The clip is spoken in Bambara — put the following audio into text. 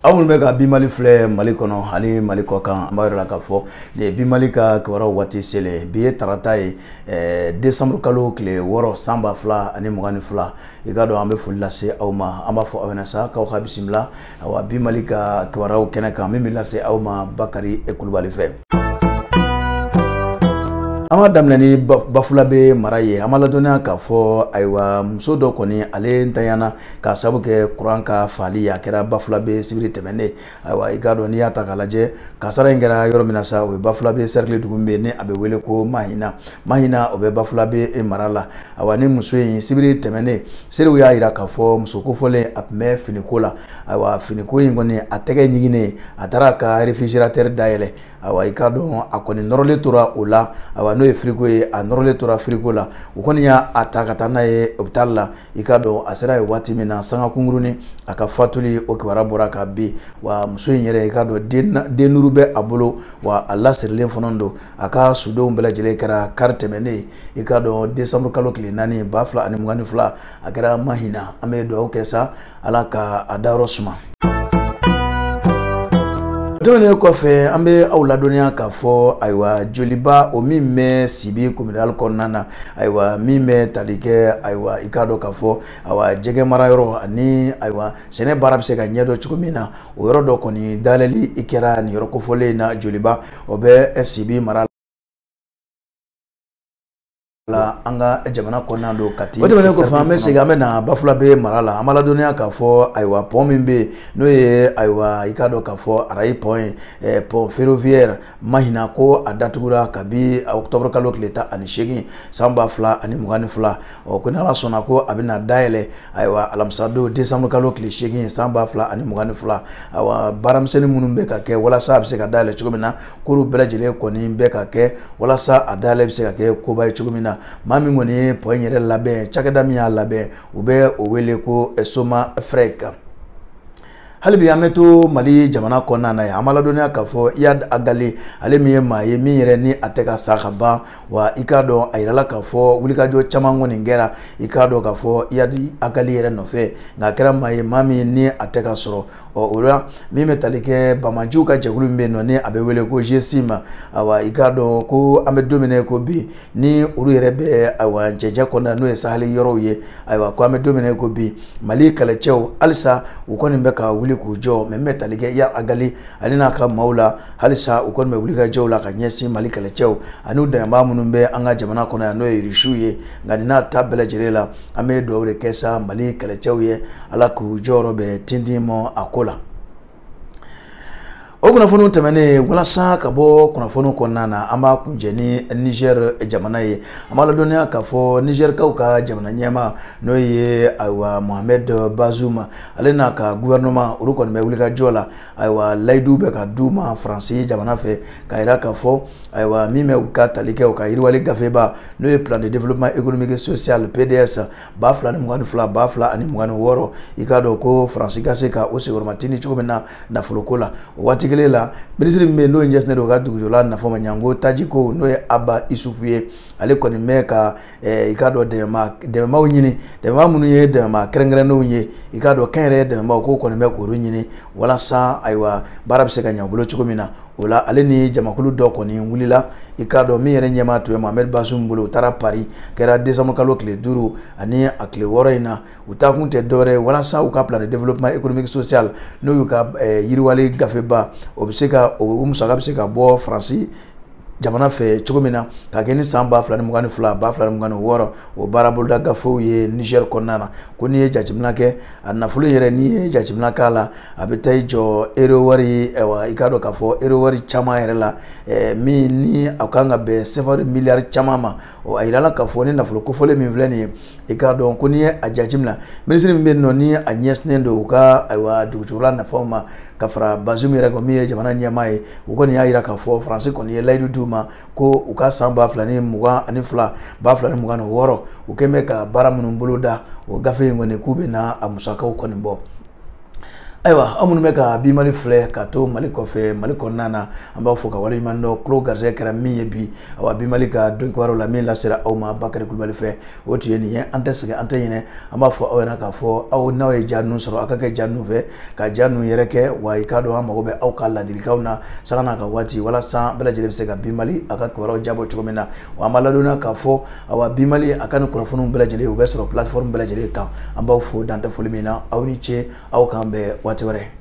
aw minnu bɛ ka bi mali filɛ mali kɔnɔ ani mali kɔkan an b'a yira aw la k'a fɔ nin bi mali ka kibaruyaw waati selen bi ye tarata ye eh, desanburu kalo tile wɔɔrɔ san ba fila ani mugan ni fila i k'a dɔn an bɛ foli lase aw ma an b'a fɔ aw ɲɛna sa k'aw ka bisimila awa bi mali ka kibaruyaw kɛnɛ kan min bɛ lase aw ma bakari kulubali fɛ an b'a daminɛ ni bafulabe mara ye an b'aw ladɔnniya k'a fɔ ayiwa muso dɔ kɔni ale nintanyana k'a sabu kɛ kuran ka faali ye a kɛra bafulabe sibiri tɛmɛnen ayiwa i k'a dɔn n'i y'a ta k'a lajɛ kasara in kɛra yɔrɔ min na sa o ye bafulabe sɛrikili dugu min bɛ yen ni a bɛ wele ko mahina mahina o bɛ bafulabe mara la ayiwa ni muso in sibiri tɛmɛnen seerew y'a jira k'a fɔ muso kofɔlen a tun bɛ finiko la ayiwa finiko in kɔni a tɛgɛ ɲiginnen a taara ka réfrigérateur dayɛlɛ ayiwa i k'a dɔn a kɔni nɔrɔlen tora o la ayiwa n'o ye firiko ye a nɔrɔlen tora firiko la u kɔni y'a a ta ka taa n'a ye hôpital la i k'a dɔn a sera yen waati min na sanga kunkurunnin a ka fatuli o kibaruya bɔra ka bin wa muso in yɛrɛ i k'a dɔn den den duuru bɛ a bolo wa a lasirilen fana don a ka sudonw bɛɛ lajɛlen kɛra kari tɛmɛnen i k'a dɔn décembre kalo tile naani ba fila ani mugan ni fila a kɛra mahina an bɛ dugawu kɛ sa ala ka a dayɔrɔ suma tɛmɛnen kɔfɛ an bɛ aw ladɔnniya k'a fɔ ayiwa joliba o min bɛ sibi kominali kɔnɔna na ayiwa min bɛ tali kɛ ayiwa i k'a dɔn k'a fɔ ayiwa jɛgɛ mara yɔrɔ ani ayiwa sɛnɛ baara bɛ se ka ɲɛdɔn cogo min na o yɔrɔ dɔ kɔni dayɛlɛli in kɛra nin yɔrɔ kofɔlen in na joliba o bɛ sibi mara la an ka jamana kɔnɔna don kati o tɛmɛnen kɔfɛ an bɛ segin an bɛ na bafulabe mara la an b'aw ladɔnniya k'a fɔ ayiwa pɔn min bɛ yen n'o ye ayiwa i k'a dɔn k'a fɔ arayi pɔn ye eh, pɔn ferroviaire mahina ko a datugura kabi octobre kalo tile tan ani seegin san ba fila ani mugan ni fila ɔ ko n'ala sɔnna ko a bɛna dayɛlɛ ayiwa alamisadon décembre kalo tile seegin san ba fila ani mugan ni fila ayiwa baara misɛnnin minnu bɛ ka kɛ walasa a bɛ se ka dayɛlɛ cogo min na k'olu bɛɛ lajɛlen kɔni bɛ ka kɛ walasa a dayɛlɛ bɛ se ka kɛ koba ye cogo min na maa min kɔni ye pɔn in yɛrɛ labɛn cakɛda min y'a labɛn u bɛ o wele ko somafrec hali bi an bɛ to mali jamana kɔnɔna na yan an b'aw ladɔnniya k'a fɔ iyad agali ale min ye maa ye min yɛrɛ ni a tɛ ka sa ka ban wa i k'a dɔn a yirala k'a fɔ wulikajɔ caman kɔni kɛra i k'a dɔn k'a fɔ iyad agali yɛrɛ nɔfɛ nka a kɛra maa ye maa min ni a tɛ ka sɔrɔ ɔ o la min bɛ tali kɛ banbaganciw ka jɛkulu min bɛ yen nɔ ni a bɛ wele ko gsim awa i k'a dɔn ko an bɛ don min na ko bi ni olu yɛrɛ bɛ awa cɛncɛn kɔnɔna n'o ye saheli yɔrɔw ye ayiwa ko an bɛ don min na ko bi mali kɛlɛcɛw halisa u kɔni bɛ ka wuli k'u jɔ mais min bɛ tali kɛ iyad agali ale n'a ka maaw la halisa u kɔni bɛ wulikajɔw la ka ɲɛsin mali kɛlɛcɛw ani u dɛmɛbaa minnu bɛ an ka jamana kɔnɔ yan n'o ye irisiw ye nka nin n'a ta bɛɛ lajɛlen la an bɛ dugawu de kɛ sa mali kɛlɛcɛw ye ala k'u jukɔrɔmatintin mɔ a ko la o kunnafoniw tɛmɛnen walasa ka bɔ kunnafoniw kɔnɔna na an b'a kuncɛ ni nizɛr jamana ye an b'a ladɔnniya k'a fɔ nizɛrikaw ka jamana ɲɛmaa n'o ye ayiwa mohamɛd bazuma ale n'a ka guvɛrɛnɛman olu kɔni bɛ wulikajɔ la ayiwa layidu bɛ ka d'u ma faransi jamana fɛ k'a jira k'a fɔ ayiwa min bɛ ka tali kɛ u ka yiriwali gafeba n'o ye plan de développement économique et social pds ba fila ni mugan ni fila ba fila ani mugan ni wɔɔrɔ i k'a dɔn ko faransi ka se ka o senkɔrɔmatintin cogo min na nafoloko la o waati kelen la minisiri min bɛ yen n'o ɲɛsinnen don u ka dugujukɔrɔla nafa ma janko taji ko n'o ye aba isufu ye ale kɔni bɛ ka i k'a dɔn dɛmɛmaw ɲini dɛmɛma minnu ye dɛmɛma kɛrɛnkɛrɛnnenw ye i k'a dɔn kɛnyɛrɛye dɛmɛmaw k'o kɔni bɛ k'olu ɲini walasa ayiwa baara bɛ se ka ɲɛ u bolo cogo min na o la ale ni jamakulu dɔ kɔni wulila i k'a dɔn min yɛrɛ ɲɛmaaya tun bɛ mohamɛdi bazum bolo u taara pari kɛra desanburu kalo tile duuru ani a tile wɔɔrɔ in na u taakun tɛ dɔwɛrɛ ye walasa u ka plan de développement économique social n'o y'u ka yiriwali gafeba o bɛ se ka o musaka bɛ se ka bɔ faransi jamana fɛ cogo min na k'a kɛ ni san ba fila ni mugan ni fila ba fila ni mugan ni wɔɔrɔ o baara boloda gafew ye nizɛri kɔnɔna na ko n'i ye jateminɛ kɛ a nafolo yɛrɛ n'i ye jateminɛ k'a la a bɛ taa i jɔ euro wari wa i k'a dɔn k'a fɔ euro wari caman yɛrɛ la min ni a kan ka bɛn sefawari miliyari caman ma ɔ a yirala k'a fɔ ni nafolo kofɔlen min filɛ nin ye i k'a dɔn ko n'i ye a jateminɛ minisiri min bɛ yen nɔ ni a ɲɛsinnen don u ka ayiwa dugujukɔrɔla nafaw ma ka fara bazum yɛrɛ kan min ye jamana ɲɛmaa ye u kɔni y'a jira k'a fɔ faransi kɔni ye layidu d'u ma ko u ka san ba fila ni mugan ani fila ba fila ni mugan ni wɔɔrɔ u kɔni bɛ ka baara minnu boloda o gafe in kɔni k'u bɛ na a musakaw kɔni bɔ ayiwa aw minnu bɛ ka bi mali filɛ ka to mali kɔfɛ mali kɔnɔna na an b'aw fo k'aw waleɲumandɔn kulo garisɛgɛ kɛra min ye bi awa bi mali ka donkibaruw la min lasera aw ma bakari kulubali fɛ o tun ye nin ye an tɛ sɛgɛn an tɛ ɲinɛ an b'a fɔ aw ɲɛna k'a fɔ aw n'aw ye ja ninnu sɔrɔ aw ka kɛ ja ninnu fɛ ka ja ninnu yɛrɛkɛ wa i k'a dɔn an mago bɛ aw ka ladilikanw na sanga n'a ka waati walasa bɛɛ lajɛlen bɛ se ka bi mali a ka kibaruyaw diyabɔ cogo min na wa an b'a ladɔnniya k'a fɔ awa bi mali a ka nin kunnafoniw bɛɛ lajɛlen u bɛ sɔrɔ plateforme bɛɛ lajɛlen kan an b'aw fo dan tɛ foli min na aw ni ce aw k'an bɛn waati wɛrɛ